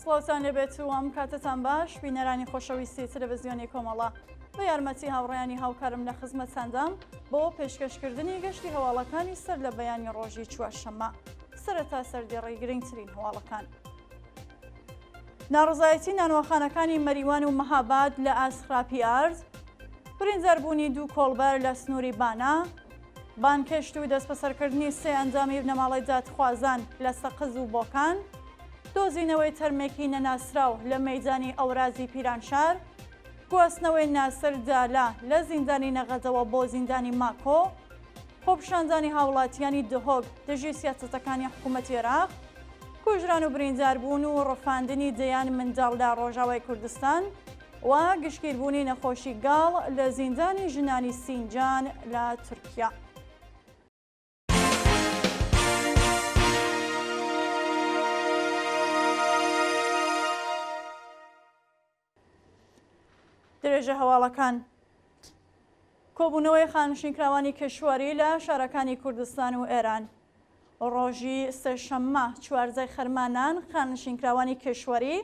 سڵاوتان لێبێت و ئەم کاتتان باش بینەرانی خۆشەویستی تەلەڤزیۆنی کۆمەڵە بە یارمەتی هاوڕیانی هاوکارم لە خزمەتساندام بۆ پێشکەشکردنی گەشتی هەواڵەکانی سەر لە بەیانی ڕۆژی چوارشەممە سەرەتا سەردێڕی گرنگترین هەواڵەکان. ناڕزایەتی نانوەخانەکانی مەریوان و مەهاباد لە ئاست خراپی ئارد برینداربوونی دوو کۆڵبەر لە سنووری بانە بانگهێشت و دەستبەسەرکردنی سێ ئەندامی بنەماڵەی دادخوازان لە سەقز و بۆکان، دۆزینەوەی تەرمێکی نەناسراو لە مەیدانی ئەورازی پیرانشار، گواستنەوەی ناسر دالە لە زیندانی نەغەدەوە بۆ زیندانی ماکۆ، خۆپیشاندانی هاوڵاتییانی دهۆک دژی سیاسەتەکانی حکوومەتی عێراق، کوژران و برینداربوون و ڕفاندنی دەیان منداڵ لە ڕۆژاوای کوردستان، و گشتگیربوونی نەخۆشی گاڵ لە زیندانی ژنانی سینجان لە تورکیا. درێژە هەواڵەکان کۆبوونەوەی خانشینکراوانی کەشوەری لە شارەکانی کوردستان و ئێران ڕۆژی سێشەممە چوارزای خەرمانان خانشینکراوانی کەشوەری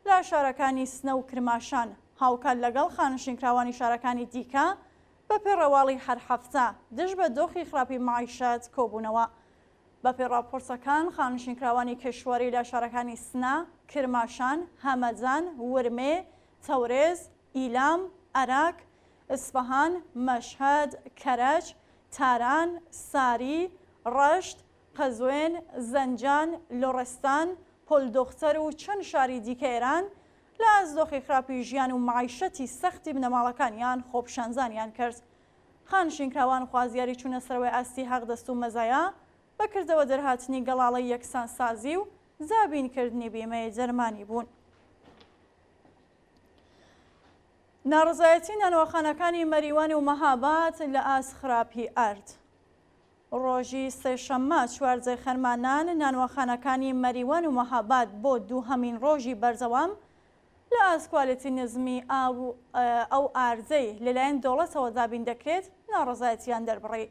لە شارەکانی سنە و کرماشان، هاوکات لەگەڵ خانشینکراوانی شارەکانی دیکە، بەپێ ڕواڵی هەر هەفتە، دژ بە دۆخی خراپی مەعیشەت کۆبوونەوە. بەپێ ڕاپۆرتەکان، خانشینکراوانی کیشوەری لە شارەکانی سنە، کرماشان، هەمەدان، ورمێ، تەورێز، ئیلام، ئەراک، ئیسفەهان، مەشهەد، کەرەج، تاران، ساری، ڕەشت، قەزوێن، زەنجان، لۆڕستان، پۆل دۆختەر و چەند شاری دیکە ئێران لە ئاست دۆخی خراپی ژیان و مەعیشەتی سەختی بنەماڵەکانیان خۆپیشانزانیان کرد. خانشینکراوان خوازیاری چوونە سەرەوەی ئاستی هەق دەست و مەزایا بە کردەوە دەرهاتنی گەڵاڵەی یەکسانسازی و دابین کردنی بیمەی دەرمانی بوون. ناڕەزایەتی نانەواخانەکانی مەریوان و مەهاباد لە ئاست خراپی ئارد. ڕۆژی سێشەممە چوارجێ خەرمانان نانواخانەکانی مەریوان و مەهاباد بۆ دووهەمین ڕۆژی بەردەوام لە ئاست کوالێتی نزمی ئاو ئەو ئاردەی لەلایەن دەوڵەتەوە دابین دەکرێت ناڕەزایەتییان دەربڕی.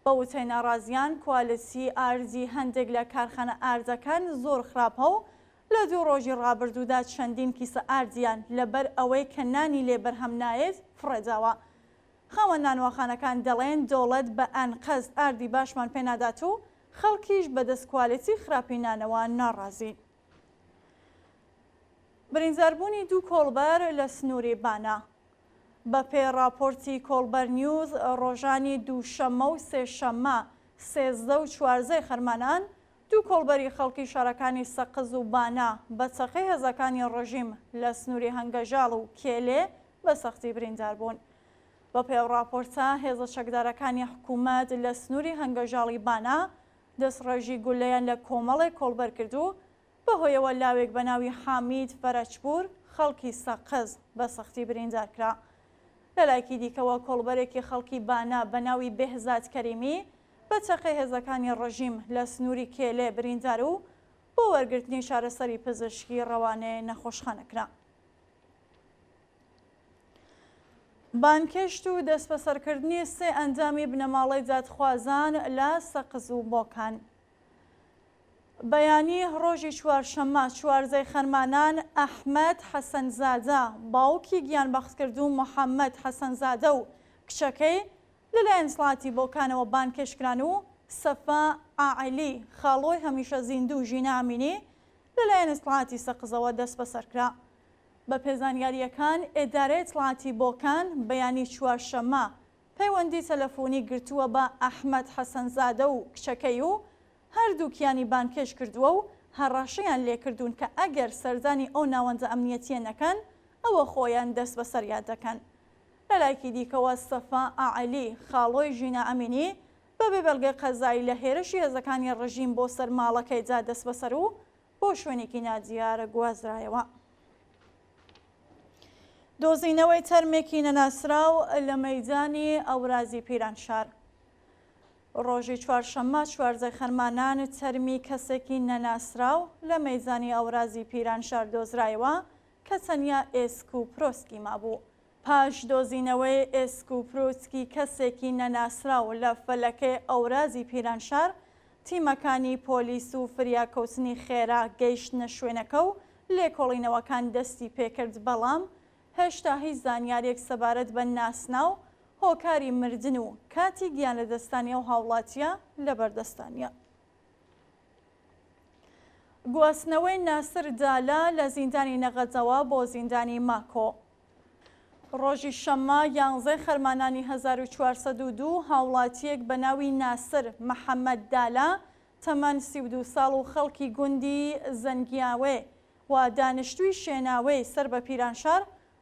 بە وتەی ناڕازییان کوالێتی ئاردی هەندێک لە کارخانە ئاردەکان زۆر خراپە و لە دوو ڕۆژی ڕابردوودا چەندین کیسە ئاردیان لەبەر ئەوەی کە نانی لێ بەرهەم نایەت فڕێداوە. خاوەن نانواخانەکان دەڵێن دەوڵەت بە ئەنقەست ئاردی باشمان پێ نادات و خەڵکیش بەدەست کوالێتی خراپی نانەوە ناڕازین. برینداربوونی دوو کۆڵبەر لە سنووری بانە. بەپێی ڕاپۆرتی کۆڵبەر نیوز، ڕۆژانی دووشەممە و سێشەممە سێزدە و چوارزەی خەرمانان، دوو کۆڵبەری خەڵکی شارەکانی سەقز و بانە بە چەقەی هێزەکانی ڕژیم لە سنووری هەنگەژاڵ و کێلێ بە سەختی بریندار بوون. بەپێی ئەو ڕاپۆرتە، هێزە چەکدارەکانی حکوومەت لە سنووری هەنگەژاڵی بانە دەستڕێژی گوللەیان لە کۆمەڵێک کۆڵبەر کرد و بەهۆیەوە لاوێک بە ناوی حامید فەرەجپوور خەڵکی سەقز بە سەختی بریندار کرا. لەلایەکی دیکەوە، کۆڵبەرێکی خەڵکی بانە بە ناوی بێهزاد کەریمی بە چەقەی هێزەکانی ڕژیم لە سنووری کێلێ بریندار و بۆ وەرگرتنی چارەسەری پزیشکی ڕەوانەی نەخۆشخانە کرا. بانگهێشت و دەستبەسەرکردنی سێ ئەندامی بنەماڵەی دادخوازان لە سەقز و بۆکان. بەیانی ڕۆژی چوارشەممە چواردەی خەرمانان ئەحمەد حەسەنزادە باوکی گیانبەختکردوو محەممەد حەسەنزادە و کچەکەی لەلایەن سڵاتی بۆکانەوە بانگهێشت کران و سەفا ئاعلی، خاڵۆی هەمیشە زیندوو و ژینا ئەمینی لەلایەن ئیتڵاعاتی سەقزەوە دەسبەسەر کرا. بەپێ زانیارییەکان، ئێدارەی ئیتڵاعاتی بۆکان بەیانی چوارشەممە پەیوەندی تەلەفوونی گرتووە بە ئەحمەد حەسەنزادە و کچەکەی و هەردووکیانی بانگهێشت کردووە و هەڕەشەیان لێ کردوون کە ئەگەر سەردانی ئەو ناوەندە ئەمنیەتییە نەکەن ئەوە خۆیان دەسبەسەریان دەکەن. لە لایەکی دیکەوە، سەفا ئاعەلی، خاڵۆی ژینا ئەمینی، بە بێ بەڵگەی قەزایی لە هێرشی هێزەکانی ڕژیم بۆ سەر ماڵەکەیدا دەسبەسەر و بۆ شوێنێکی نادیار گوازرایەوە. دۆزینەوەی تەرمێکی نەناسراو لە مەیدانی ئەورازی پیرانشار ڕۆژی چوارشەممە چواردە خەرمانان تەرمی کەسێکی نەناسراو لە مەیدانی ئەورازی پیرانشار دۆزرایەوە کە تەنیا ئێسک و پرۆسکی مابوو. پاش دۆزینەوەی ئێسک و پروسکی کەسێکی نەناسراو لە فەلەکەی ئەورازی پیرانشار، تیمەکانی پۆلیس و فریاکەوتنی خێرا گەیشتنە شوێنەکە و لێکۆڵینەوەکان دەستی پێکرد، بەڵام هێشتا هیچ زانیارییەک سەبارەت بە ناسناو، هۆکاری مردن و کاتی گیانلەدەستانی ئەو هاوڵاتییە لەبەردەستدا نییە. گواستنەوەی ناسر دالە لە زیندانی نەغەدەوە بۆ زیندانی ماکۆ. ڕۆژی شەممە یانزەی خەرمانانی هەزار و چوار سەد و دوو هاوڵاتییەک بە ناوی ناسر محەمەد دالە تەمەن سی و دوو ساڵ و خەڵکی گوندی زەنگیاوێ و دانیشتووی شێناوێی سەر بە پیرانشار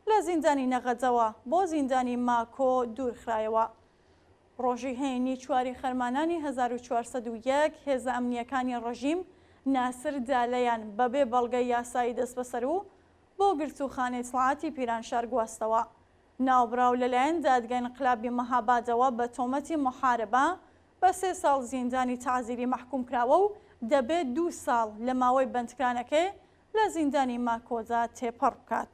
لە زیندانی نەغەدەوە بۆ زیندانی ماکۆ دوورخرایەوە. ڕۆژی هەینی چواری خەرمانانی هەزار و چوار سەد و یەک هێزە ئەمنییەکانی ڕژیم ناسر دالەیان بەبێ بەڵگەی یاسایی دەستبەسەر و بۆ گرتووخانەی سڵاتی پیرانشار گواستەوە. ناوبراو لەلایەن دادگای ئنقلابی مەهابادەوە بە تۆمەتی موحاربە بە سێ ساڵ زیندانی تەعزیری مەحکووم کراوە و دەبێت دوو ساڵ لە ماوەی بەندکرانەکەی لە زیندانی ماکۆدا تێپەڕ بکات.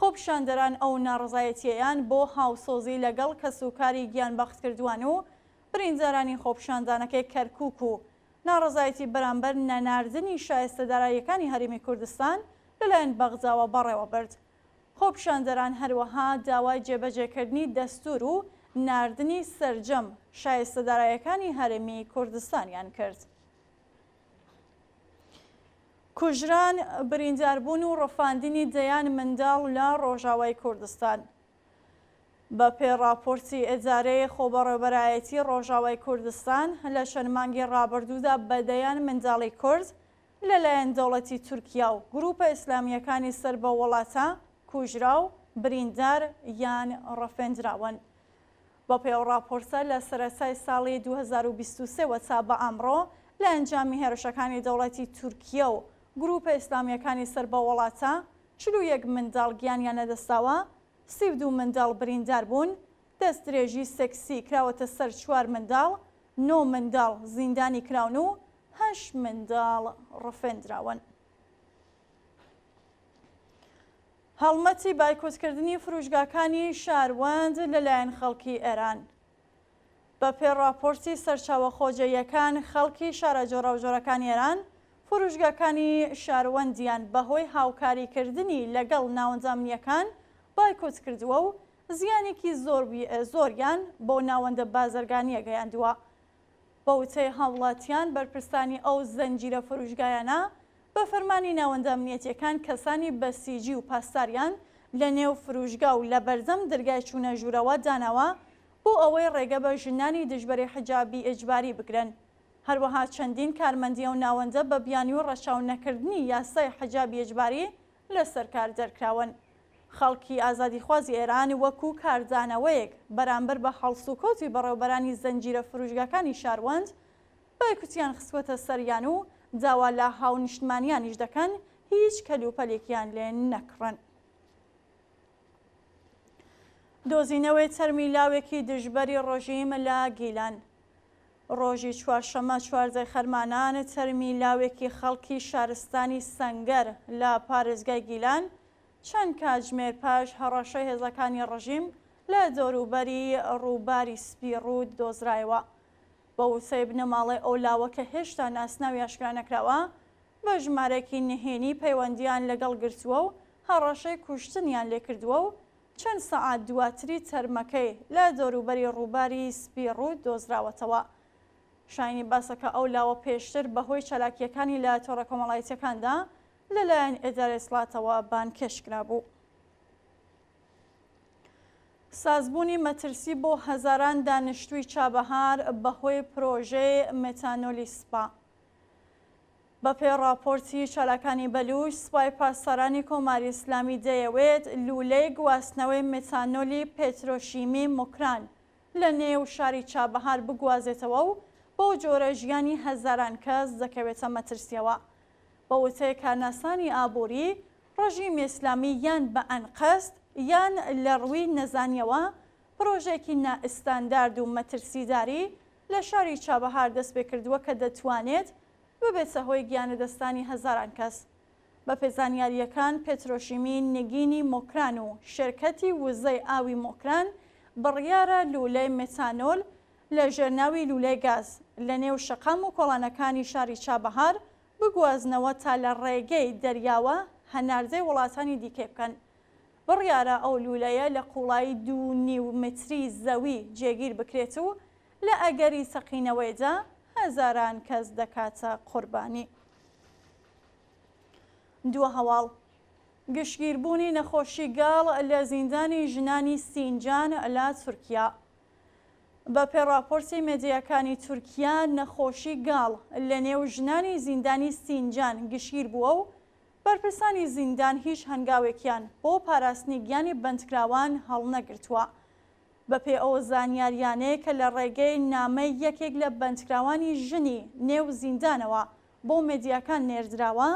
خۆپیشاندەران ئەو ناڕەزایەتییەیان بۆ هاوسۆزی لەگەڵ کەسوکاری گیانبەختکردووان و بریندارانی خۆپیشاندانەکەی کەرکووک و ناڕەزایەتی بەرامبەر نەناردنی شایستە داراییەکانی هەرێمی کوردستان لەلایەن بەغداوە بەڕێوەبرد. خۆپیشاندەران هەروەها داوای جێبەجێکردنی دەستوور و ناردنی سەرجەم شایستە دارایەکانی هەرێمی کوردستانیان کرد. کوژران، برینداربوون و ڕفاندنی دەیان منداڵ لە ڕۆژاوای کوردستان. بەپێ ڕاپۆرتی ئێدارەی خۆبەڕێوبەرایەتی ڕۆژاوای کوردستان، لە چەند مانگی ڕابردوودا بە دەیان منداڵی کورد لەلایەن دەوڵەتی تورکیا و گرووپە ئیسلامییەکانی سەر بەو وڵاتە کوژرا و بریندار یان ڕفێندراون. بەپێی ئەو ڕاپۆرتە، لە سەرەتای ساڵی دوو هەزار و بیست و سێ وە تا بە ئەمڕۆ، لە ئەنجامی هێرشەکانی دەوڵەتی تورکیە و گرووپە ئیسلامییەکانی سەر بەو وڵاتە، چل و یەک منداڵ گیانیان لەدەستداوە، سی و دوو منداڵ بریندار بوون، دەستدرێژی سێکسی کراوەتە سەر چوار منداڵ، نۆ منداڵ زیندانی کراون و هەشت منداڵ ڕفێندراون. هەڵمەتی بایکۆتکردنی فروشگاکانی شاروەند لەلایەن خەڵکی ئێران بەپێ ڕاپۆرتی سەرچاوە خۆجێیەکان خەڵکی شارە جۆراوجۆرەکانی ئێران فروشگاکانی شاروەندیان بەهۆی هاوکاریکردنی لەگەڵ ناوەندە ئەمنیەکان بایکۆت کردووە و زیانێکی زۆریان بۆ ناوەندە بازرگانیە گەیاندووە. بە وتەی هاوڵاتیان بەرپرسانی ئەو زنجیرە فروشگایانە بە فەرمانی ناوەندە ئەمنیەتیەکان کەسانی بەسیجی و پاسداریان لە نێو فروشگا و لە بەردەم درگای چونە ژورەوە داناوە بۆ ئەوەی ڕێگە بە ژنانی دژبەری حجابی ئیجباری بگرن هەروەها چەندین کارمەندی ئەو ناوەندە بە بیانوی ڕەچاو نەکردنی یاسای حجابی ئیجباری لەسەر کار دەرکراون. خەڵکی ئازادیخوازی ئێران وەکوو کاردانەوەیەک بەرامبەر بە هەڵسوکەوتی بەڕێوبەرانی زنجیرە فرووشگاکانی شاروەند، بایکوتیان خستووەتە سەریان و داوا لە هاونیشتمانیانیش دەکەن هیچ کەلوپەلێکیان لێ نەکڕن. دۆزینەوەی تەرمی لاوێکی دژبەری ڕژیم لە گیلان. ڕۆژی چوارشەممە چواردە خەرمانان تەرمی لاوێکی خەڵکی شارستانی سەنگەر لە پارێزگای گیلان چەند کاتژمێر پاش هەڕەشەی هێزەکانی ڕژیم لە دەوروبەری ڕووباری سپی ڕووت دۆزرایەوە. بە وتەی بنەماڵەی ئەو لاوە کە هێشتا ناسناوی ئاشکرا نەکراوە، بە ژمارەیەکی نهێنی پەیوەندییان لەگەڵ گرتووە و هەڕەشەی کوشتنیان لێکردووە و چەند سەعات دواتری تەرمەکەی لە دەوروبەری ڕووباری سپی ڕووت دۆزراوەتەوە. شایەنی باسە کە ئەو لاوە پێشتر بەهۆی چالاکییەکانی لە تۆڕە کۆمەڵایەتییەکاندا لەلایەن ئێدارەی سڵاتەوە بانگهێشت کرابوو. سازبوونی مەترسی بۆ هەزاران دانیشتووی چابەهار بەهۆی پرۆژەی مێتانۆلی سپا. بەپێی ڕاپۆرتی چالاکانی بەلووش، سپای پاسدارانی کۆماری ئیسلامی دەیەوێت لوولەی گواستنەوەی متانۆلی پێترۆشیمی موکران لە نێو شاری چابەهار بگوازێتەوە و بەو جۆرە ژیانی هەزاران کەس دەکەوێتە مەترسییەوە. بە وتەی کارناسانی ئابووری، ڕژیمی ئیسلامی یان بە ئەنقەست یان لە ڕووی نەزانییەوە پرۆژەیەکی نائستاندارد و مەترسیداری لە شاری چابەهار دەستپێکردووە کە دەتوانێت ببێتە هۆی گیانلەدەستدانی هەزاران کەس. بەپێ زانیارییەکان، پێترۆشیمی نگینی مۆکران و شێرکەتی وزەی ئاوی مۆکران بڕیارە لوولەی مێتانۆل لە ژێر ناوی لوولەی گاز لە نێو شەقام و کۆڵانەکانی شاری چابەهار بگوازنەوە تا لە ڕێگەی دەریاوە هەناردەی وڵاتانی دیکەی بکەن. بڕیارە ئەو لوولەیە لە قووڵایی دوو نیو متری زەوی جێگیر بکرێت و لە ئەگەری سەقینەوەیدا هەزاران کەس دەکاتە قوربانی. دووە هەواڵ گشتگیربوونی نەخۆشی گاڵ لە زیندانی ژنانی سینجان لە تورکیا. بەپێ ڕاپۆرتی مێدیاکانی تورکیا نەخۆشی گاڵ لە نێو ژنانی زیندانی سینجان گشتگیر بووە و بەرپرسانی زیندان هیچ هەنگاوێکیان بۆ پاراستنی گیانی بەندکراوان هەڵنەگرتووە. بەپێی ئەو زانیارییانەی کە لە ڕێگەی نامەی یەکێک لە بەندکراوانی ژنی نێو زیندانەوە بۆ مێدیاکان نێردراوە،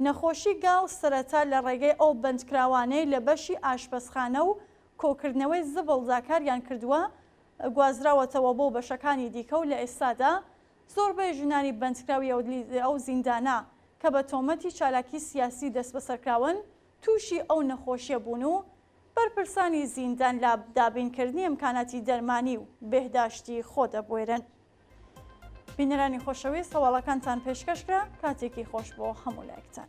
نەخۆشی گاڵ سەرەتا لە ڕێگەی ئەو بەندکراوانەی لە بەشی ئاشپەزخانە و کۆکردنەوەی زبڵدا کاریان کردووە گوازراوەتەوە بۆ بەشەکانی دیکە و لە ئێستادا زۆربەی ژنانی بەندکراوی ئەو زیندانە کە بە تۆمەتی چالاکی سیاسی دەستبەسەرکراون تووشی ئەو نەخۆشیە بوون و بەرپرسانی زیندان لە دابینکردنی ئەمکاناتی دەرمانی و بێهداشتی خۆ دەبوێرن. بینەرانی خۆشەویست هەواڵەکانتان پێشکەش کرا، کاتێکی خۆش بۆ هەموو لایەکتان.